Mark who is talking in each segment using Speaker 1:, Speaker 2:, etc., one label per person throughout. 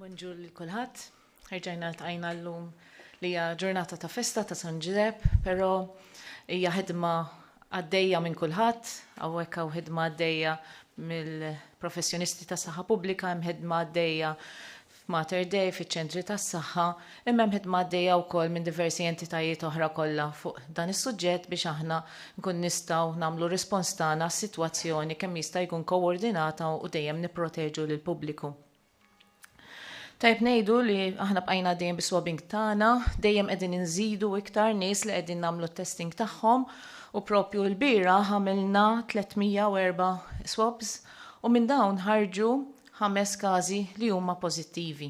Speaker 1: Bonjour lil kulħadd. Erġajna ltqajna llum li hija ġurnata ta' festa ta' San Ġiżepp, però hija ħidma għaddejja minn kulħadd, hawnhekk hawn ħidma għaddejja mill-professjonisti tas-saħħa pubblika, hemm ħidma għaddejja f'Mater Dei, fiċ-ċentri tas-saħħa, imma hemm ħidma għaddejja wkoll minn diversi entitajiet oħra kollha fuq dan is-suġġett biex aħna nkunu nistgħu nagħmlu r-rispons tagħna għas-sitwazzjoni kemm jista' jkun koordinata u dejjem nipproteġu lill-pubbliku. Tajjeb ngħidu li aħna bqajna għaddejjin bis-swabbing tagħna, dejjem qegħdin inżidu iktar nies li qegħdin nagħmlu t-testing tagħhom u proprju lbieraħ għamilna 304 swabs u minn dawn ħarġu ħames każi li huma pożittivi.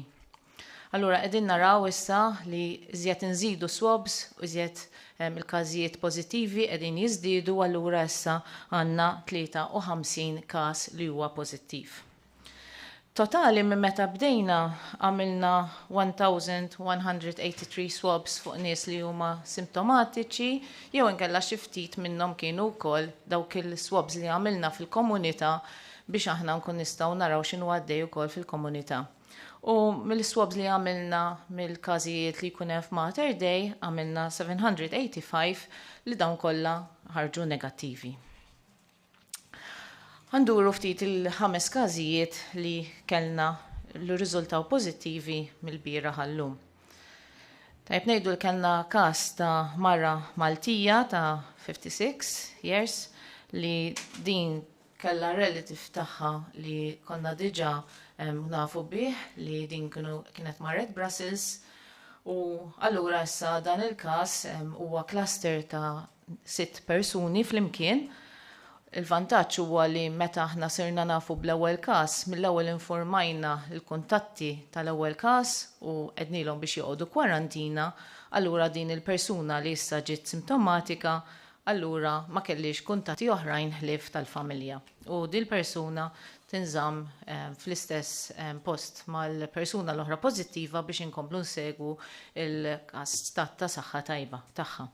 Speaker 1: Allura qegħdin naraw issa li iżjed inżidu swabs u iżjed il-każijiet pożittivi qegħdin jiżdiedu allura issa għandna 53 każ li huwa pożittiv. Totali minn meta bdejna għamilna 1,183 swabs fuq nies li huma simptomatiċi jew inkella xi ftit minnhom kienu wkoll dawk il-swabs li għamilna fil-komunità biex aħna nkun nistgħu naraw x'inhu għaddej ukoll fil-komunità. U mill-swabs li għamilna mill-każijiet li jkun hemm f'Mater Dei għamilna 785 li dawn kollha ħarġu negattivi. Għanduru ftit il-ħames każijiet li kellna li riżultaw pożittivi mill-bira ħallum. Tajb ngħidu li kellna każ ta' mara Maltija ta' 56 years li din Kellha relative tagħha li konna diġà nafu bih li din kienet marret Brussels u allura issa dan il-każ huwa cluster ta' sitt persuni flimkien. Il-vantaġġ huwa li meta aħna sirna nafu bl-ewwel każ, mill-ewwel infurmajna l-kuntatti tal-ewwel każ u għednielhom biex joqogħdu kwarantina, allura din il-persuna li issa ġiet simtomatika allura ma kellhiex kuntatti oħrajn ħlief tal-familja u dil-persuna tinżamm fl-istess post mal-persuna l-oħra pożittiva biex inkomplu nsegwu l-każ stat ta' saħħa tajba tagħha.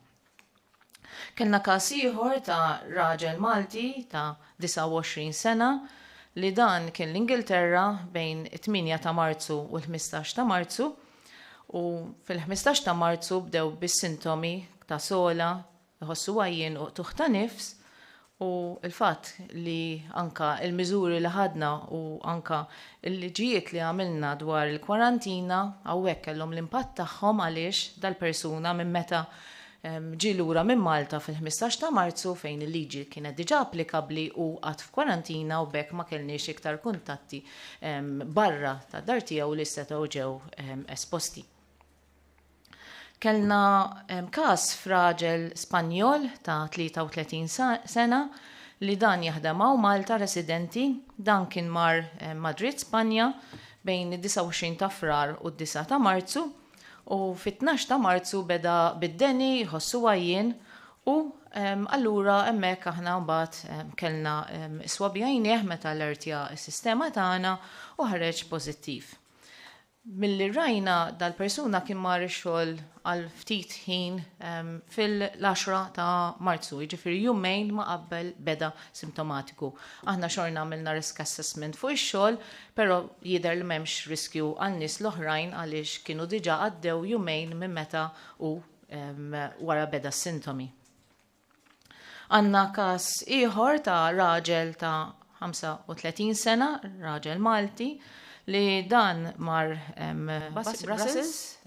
Speaker 1: Kellna każ ieħor ta' raġel Malti ta' 29 sena li dan kien l-Ingilterra bejn it-tmienja ta' Marzu u l-ħmistax ta' Marzu, u fil-15 ta' Marzu bdew bis-sintomi ta' sogħla, iħossu għajjien u qtugħ ta' nifs u l-fatt li anke l-miżuri li ħadna u anke l-liġijiet li għamilna dwar il-kwarantina hawnhekk kellhom l-impatt tagħhom għaliex dal-persuna minn meta Ġie lura minn Malta fil-ħmistax ta' Marzu fejn il-liġi kienet diġà applikabbli u qagħad f'kwarantina u b'hekk ma kellniex iktar kuntatti barra tad-dar tiegħu li setgħu ġew esposti. Kellna każ f'raġel Spanjol ta' 33 sena li dan jaħdem hawn Malta residenti, dan kien mar Madrid, Spanja bejn id-29 ta' Frar u d-disgħa ta' Marzu, U fit-tnax ta' Marzu beda bid-deni, jħossu għajjien u allura hemmhekk aħna mbagħad kellna swab għajnieh meta allertja s-sistema tagħna u ħareġ pożittiv. Milli rajna dal-persuna kien mar ix-xogħol għal ftit ħin fil-10 ta' Marzu, jiġifieri jumejn ma' qabel beda simtomatiku. Aħna xorna għamilna risk assessment fuq ix-xogħol Però jidher li m'hemmx riskju għal nies l-oħrajn għaliex kienu diġà għaddew jumejn minn meta hu wara beda s-sintomi. Għandna każ ieħor ta' raġel ta' 35 sena, raġel Malti, li dan mar Brussels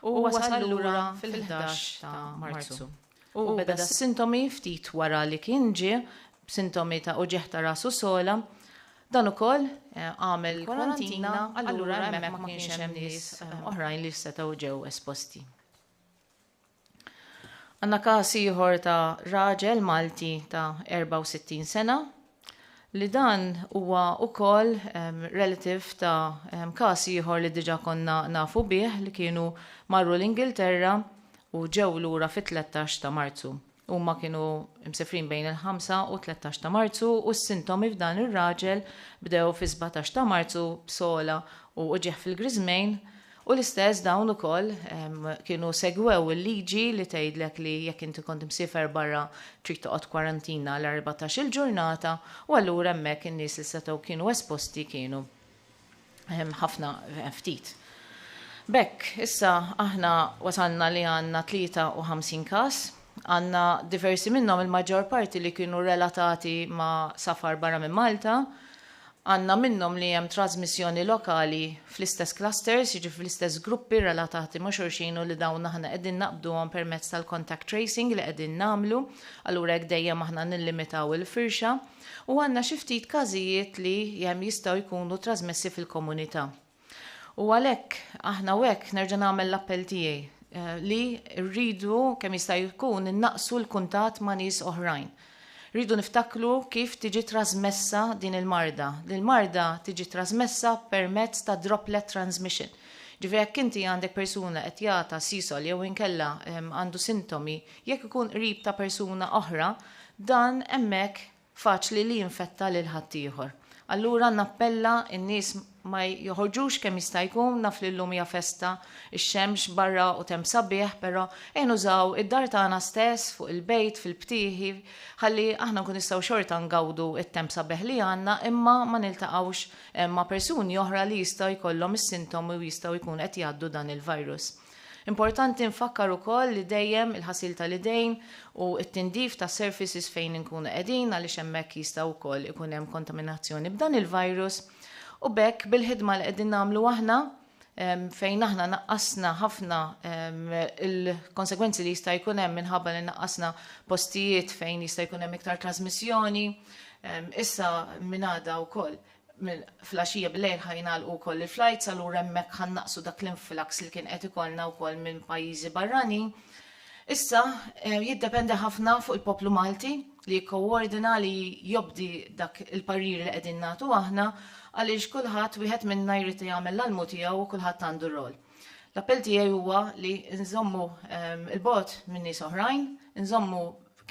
Speaker 1: u wasal lura fil-11 ta' Marzu. U beda s-sintomi ftit wara li kien ġie, b'sintomi ta' uġigħ ta' rasu sola. Dan ukoll għamel kwarantina, allura hemmhekk ma kienx hemm nies oħrajn li setgħu ġew esposti. Għandna każ ieħor ta' raġel Malti ta' 64 sena li dan huwa wkoll relative ta' każ ieħor li diġà konna nafu bih li kienu marru l-Ingilterra u ġew lura fit-tlettax ta' Marzu. Huma kienu msefrin bejn il-ħamsa u t-tlettax ta' Marzu u s-sintomi f'dan ir-raġel bdew fis-sbatax ta' Marzu b'sogħla u uġigħ fil-griżmejn U l-istess dawn ukoll kienu segwew il-liġi li tgħidlek li jekk inti kont imsiefer barra trid toqgħod kwarantina għal erbatax-il ġurnata u allura hemmhekk in-nies li setgħu kienu esposti kienu ħafna ftit. B'hekk, issa aħna wasalna li għandna 53 każ. Għandna diversi minnhom, il-maġġor parti li kienu relatati ma' safar barra minn Malta. Għandna minnhom li hemm trażmissjoni lokali fl-istess clusters, jiġifieri fl-istess gruppi relatati ma' xulxin u li dawn aħna qegħdin naqbduhom permezz tal-contact tracing li qegħdin nagħmlu, allura hekk dejjem aħna nillimitaw il-firxa. U għandna xi ftit każijiet li jistgħu jkunu trażmessi fil-komunità. U għalhekk aħna u hekk nerġa' nagħmel l-appell tiegħi li rridu kemm jista' jkun innaqsu l-kuntatt ma' nies oħrajn. Rridu niftakru kif tiġi trasmessa din il-marda. L-marda tiġi trasmessa permezz ta' droplet transmission. Ġifieri jekk inti għandek persuna qed jagħta sisol jew inkella għandu sintomi, jekk ikun qrib ta' persuna oħra, dan hemmhekk faċli li jinfetta lil ħaddieħor. Allura nappella n-nies ma joħorġux kemm jista' jkun, naf li llum hija festa, ix-xemx barra u temp sabiħ, però ejn użaw id-dar tagħna stess, fuq il-bejt, fil-btieħi, ħalli aħna nkunu nistgħu xorta ngawdu t-temp sabiħ li għandna imma ma niltaqgħux ma' persuni oħra li jistgħu jkollhom is-sintomi u jistgħu jkunu qed jgħaddu dan il-virus. Importanti nfakkar ukoll li dejjem il-ħasil tal-idejn u t-tindif tas-surfaces fejn inkunu qegħdin għaliex hemmhekk jista' wkoll ikun hemm kontaminazzjoni b'dan il-virus u b'hekk bil-ħidma li qegħdin nagħmlu aħna fejn aħna naqqasna ħafna l-konsegwenzi li jista' jkun hemm minħabba li naqqasna postijiet fejn jista' jkun hemm iktar trażmissjoni issa minn għada wkoll minn flaxija bil-lejl ħa jingħalqu wkoll il-flights allura hemmhekk ħa nnaqqsu dak l-influx li kien qed ikollna wkoll minn pajjiżi barranin. Issa jiddependi ħafna fuq il-poplu Malti li jikkowordina li jobdi dak il-parir li qegħdin nagħtu aħna għaliex kulħadd wieħed minna jrid jagħmel l-almu tiegħu u kulħadd għandu role. L-appell tiegħi huwa li nżommu il-bogħod minn nies oħrajn, inżommu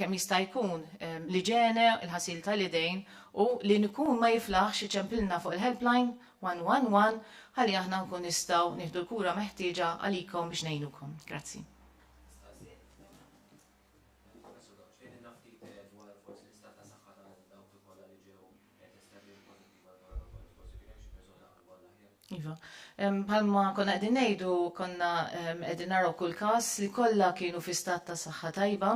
Speaker 1: kemm jista' jkun, l-iġene, il-ħasil tal-idejn u li nkun ma jiflaħx iċempilna fuq il-helpline 111 ħalli aħna nkun nistgħu nieħdu l-kura meħtieġa għalikom biex ngħinukom. Grazzi. Iva. Bħalma konna qegħdin ngħidu, konna qegħdin naraw kull każ li kollha kienu fi stat ta' saħħa tajba.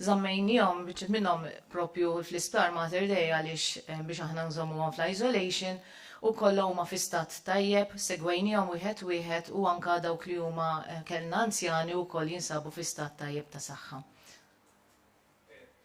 Speaker 1: Żammejniehom biċċa minnhom propju fl-Isptar Mater Dei għaliex biex aħna nżommuhom fl-isolation u kollha huma fi stat tajjeb, segwejniehom wieħed wieħed u anke dawk li huma kellna anzjani wkoll jinsabu fi stat tajjeb ta' saħħa.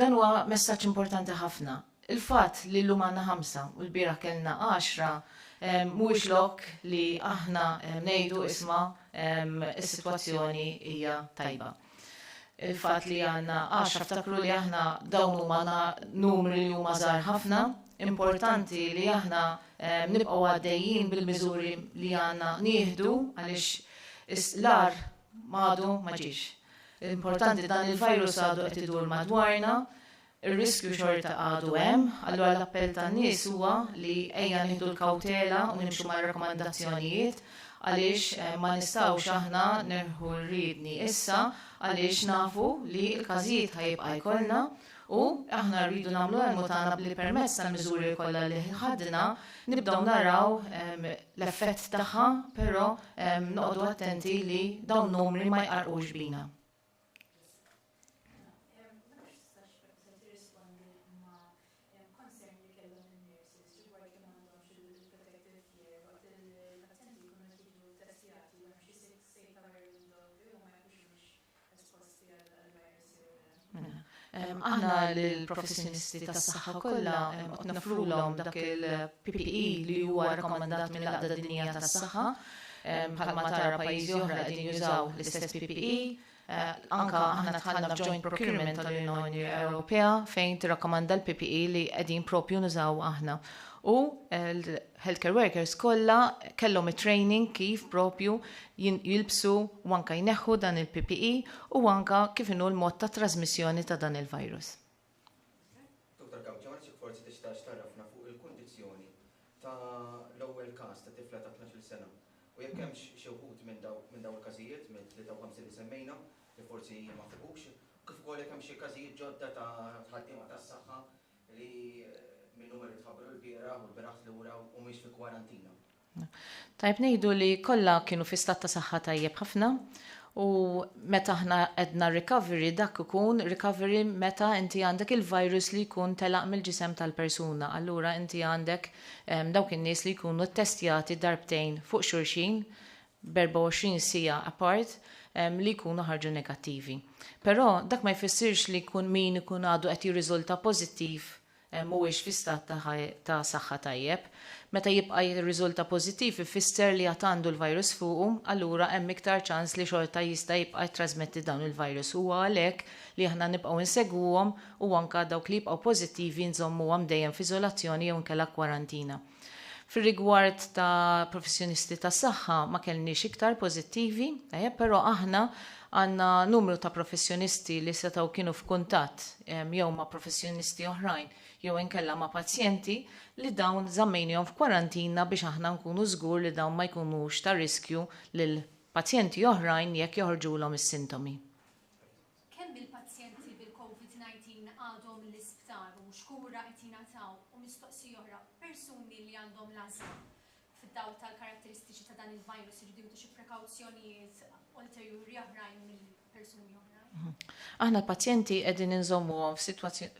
Speaker 1: Dan huwa messaġġ importanti ħafna. Il-fatt li llum għandna ħamsa u lbieraħ kellna għaxra mhuwiex lok li aħna ngħidu isma' is-sitwazzjoni hija tajba. Il-fatt li għandna għaxra ftakru li aħna dawn huma numri li huma żgħar ħafna, importanti li aħna nibqgħu għaddejjin bil-miżuri li għandna nieħdu għaliex l-agħar m'għadu ma ġiex. L-importanti dan il-virus għadu qed idur madwarna, ir-riskju xorta għadu hemm, allura l-appell tan-nies huwa li ejja nieħdu l-kawtela u nimxu mar-rakkomandazzjonijiet għaliex ma nistgħux aħna nirħu r-riedni issa għaliex nafu li l-każijiet ħa jibqa' jkollna. U, aħna rridu nagħmlu l-almu tagħna b'li permezz tal-miżuri kollha li ħadna, nibdew naraw l-effett tagħha, però noqogħdu attenti li dawn numri ma jqarrqux bina. esposti għal dal-virus jew le. Aħna lill-professjonisti tas-saħħa kollha qed noffrulhom dak il-PPE li huwa rakkomandat mill-Għaqda Dinjija tas-Saħħa. Bħalma tara pajjiżi oħra qegħdin jużaw l-istess PPE. Anke aħna dħalna f'joint procurement tal-Unjoni Ewropea fejn tirrakkomanda l-PPE li qegħdin proprju nużaw aħna. U healthcare workers kollha kellhom it-training kif proprju jilbsu u anke jneħħu dan il-PPE u anke kif inhu l-mod ta' trażmissjoni ta'
Speaker 2: dan
Speaker 1: il-virus. Dottor Gawdjans, jekk
Speaker 2: forsi
Speaker 1: tistax tgħarrafna fuq il-kundizzjoni ta'
Speaker 2: l-ewwel każ ta' tifla ta' tnax-il sena u jekk hemmx xi wħud minn dawn il-każijiet mill-53 li semmejna li forsi ma fuqux, kif ukoll jekk hemm xi każijiet ġodda ta' ħaddiema tas-saħħa li min-numeri tħabbru l-bieraħ u l-bieraħ tlura humiex fi kwarantina. Tajjeb
Speaker 1: ngħidu li kollha kienu fi stat ta' saħħa tajjeb ħafna u meta aħna għedna recovery dak ikun recovery meta inti għandek il-virus li jkun telaq mill-ġisem tal-persuna. Allura inti għandek dawk in-nies li jkunu ttestjati darbtejn fuq xulxin b'erbgħa-u-għoxrin siegħa apart li jkunu ħarġu negattivi. Però dak ma jfissirx li jkun min ikun għadu qed jirriżulta pożittiv mhuwiex fi stat ta' saħħa tajjeb. Meta jibqa' jirriżulta pożittiv ifisser li għad għandu l-virus fuqu, allura hemm iktar ċans li xorta jista' jibqa' jittrasmetti dawn il-virus. Huwa għalhekk li aħna nibqgħu insegwuhom u anke dawk li jibqgħu pożittivi nżommuhom dejjem f'iżolazzjoni jew inkella kwarantina. Fir-rigward ta' professjonisti tas-saħħa ma kellniex iktar pożittivi, tajjeb, però aħna għandna numru ta' professjonisti li setgħu kienu f'kuntatt jew ma' professjonisti oħrajn jew inkella ma' pazjenti li dawn żammejnihom f'kwarantina biex aħna nkunu żgur li dawn ma jkunux ta' riskju lil pazjenti oħrajn jekk joħorġulhom is-sintomi.
Speaker 3: Kemm il-pazjenti bil-Covid-19 għadhom l-isptar u x'kura qed jingħataw u mistoqsija oħra, persuni li għandhom l-ażma fid-dawl tal-karatteristiċi ta' dan il-virus iridu jieħdu xi prekawzjonijiet ulterjuri oħrajn mill-persuni oħrajn? Aħna
Speaker 1: l-pazjenti qegħdin inżommuhom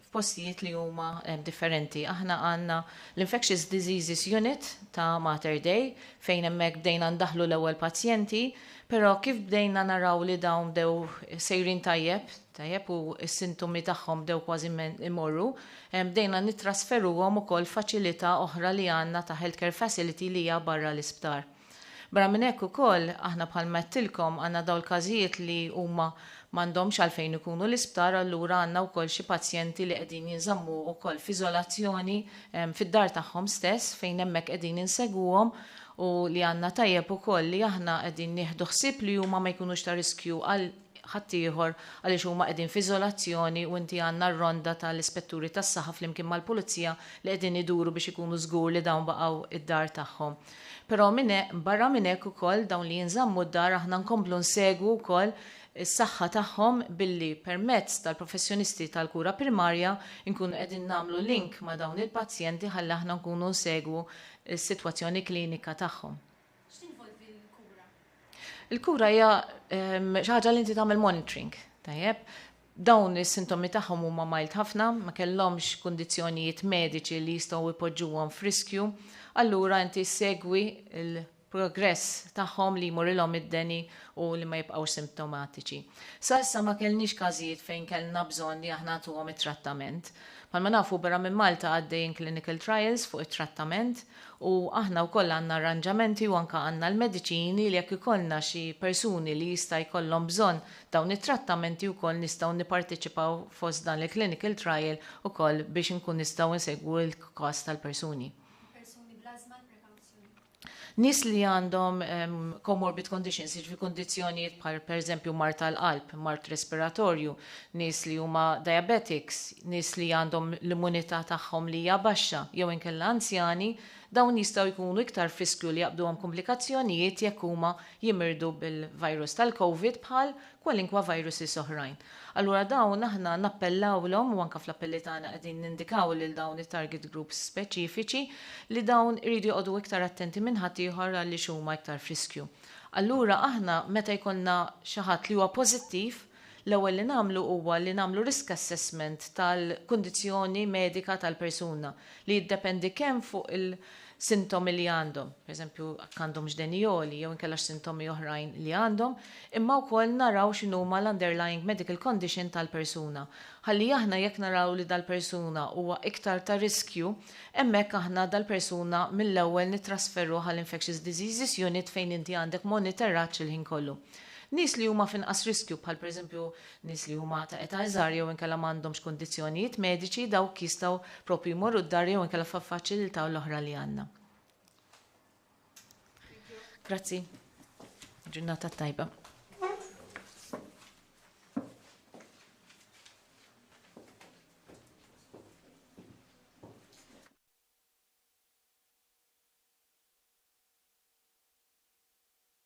Speaker 1: f'postijiet li huma differenti. Aħna għandna l-Infectious Diseases Unit ta' Mater Dei fejn hemmhekk bdejna ndaħħlu l-ewwel pazjenti, però kif bdejna naraw li dawn bdew sejrin tajjeb, tajjeb u s-sintomi tagħhom bdew kważi imorru, bdejna nittrasferuhom ukoll f'faċilità oħra li għandna ta' Healthcare Facility li hija barra l-isptar. Barra minn hekk ukoll, aħna bħalma għedtilkom għandna dawn il-każijiet li huma m'għandhomx għalfejn ikunu l-isptar allura għandna wkoll xi pazjenti li qegħdin jinżammu wkoll f'iżolazzjoni fid-dar tagħhom stess fejn hemmhekk qegħdin insegwuhom u li għandna tajjeb ukoll li aħna qegħdin nieħdu ħsieb li huma ma jkunux ta' riskju għal ħaddieħor għaliex huma qegħdin f'iżolazzjoni u inti għandna r-ronda tal-ispetturi tas-saħħa flimkien mal-pulizija li qegħdin iduru biex ikunu żgur li dawn baqgħu d-dar tagħhom. Però minn barra minn hekk ukoll dawn li jinżammu d-dar aħna nkomplu nsegwu wkoll is-saħħa tagħhom billi permezz tal-professjonisti tal-kura primarja nkunu qegħdin nagħmlu link ma' dawn il-pazjenti ħalli aħna nkunu nsegwu s-sitwazzjoni klinika tagħhom.
Speaker 3: X'tinvolvi l-kura? Il-kura
Speaker 1: hija ehm, xi ħaġa li inti tagħmel monitoring, tajjeb? Dawn is-sintomi tagħhom huma mild ħafna, ma kellhomx kundizzjonijiet mediċi li jistgħu jpoġġuhom f'riskju, allura inti segwi il-progress tagħhom li jmurilhom id-deni u li ma jibqgħux simptomatiċi. Sa issa ma kellniex każijiet fejn kellna bżonn li aħna ntuhom it-trattament. Palma nafu barra minn Malta għaddejjin clinical trials fuq it-trattament, U aħna wkoll għandna arranġamenti u anke għandna l-mediċini li jekk ikollna xi persuni li jista' jkollhom bżonn dawn it-trattamenti wkoll nistgħu nipparteċipaw fost dan il-clinical trial ukoll biex inkun nistgħu nsegwu l-każ tal-persuni. Persuni bl-ażma, l-prekawzjoni? Nies li għandhom comorbid conditions, jiġifieri kundizzjonijiet bħal pereżempju mard tal-qalb, mard respiratorju, nies li huma diabetics, nies li għandhom l-immunità tagħhom li hija baxxa jew inkella anzjani, dawn jistgħu jkunu iktar f'riskju li jaqbduhom kumplikazzjonijiet jekk huma jimirdu bil-virus tal-Covid bħal kwalinkwa viruses oħrajn. Allura dawn aħna nappellawlhom, u anke fl-appelli tagħna qegħdin nindikaw lil dawn it-target groups speċifiċi, li dawn iridu joqogħdu iktar attenti minn ħaddieħor għaliex huma iktar f'riskju. Allura aħna meta jkollna xi ħadd li huwa pożittiv, L-ewwel li nagħmlu huwa li nagħmlu risk assessment tal-kundizzjoni medika tal-persuna, li jiddependi kemm fuq il-sintomi li għandhom, per eżempju jekk għandhomx deni għoli jew inkella x'sintomi oħrajn li għandhom, imma wkoll naraw x'inhuma l-underlying medical condition tal-persuna. Ħalli aħna jekk naraw li dal-persuna huwa iktar ta' riskju, hemmhekk aħna dal-persuna mill-ewwel nittrasferuh għal Infectious Diseases Unit fejn inti għandek moniteraġġ il-ħin kollu. Nies li huma f'inqas riskju, bħal pereżempju nies li huma ta' età iżgħar jew inkella m'għandhomx kundizzjonijiet mediċi, dawk jistgħu proprju jmorru d-dar jew inkella f'faċilità l-oħra li għandna. Grazzi. Ġurnata tajba.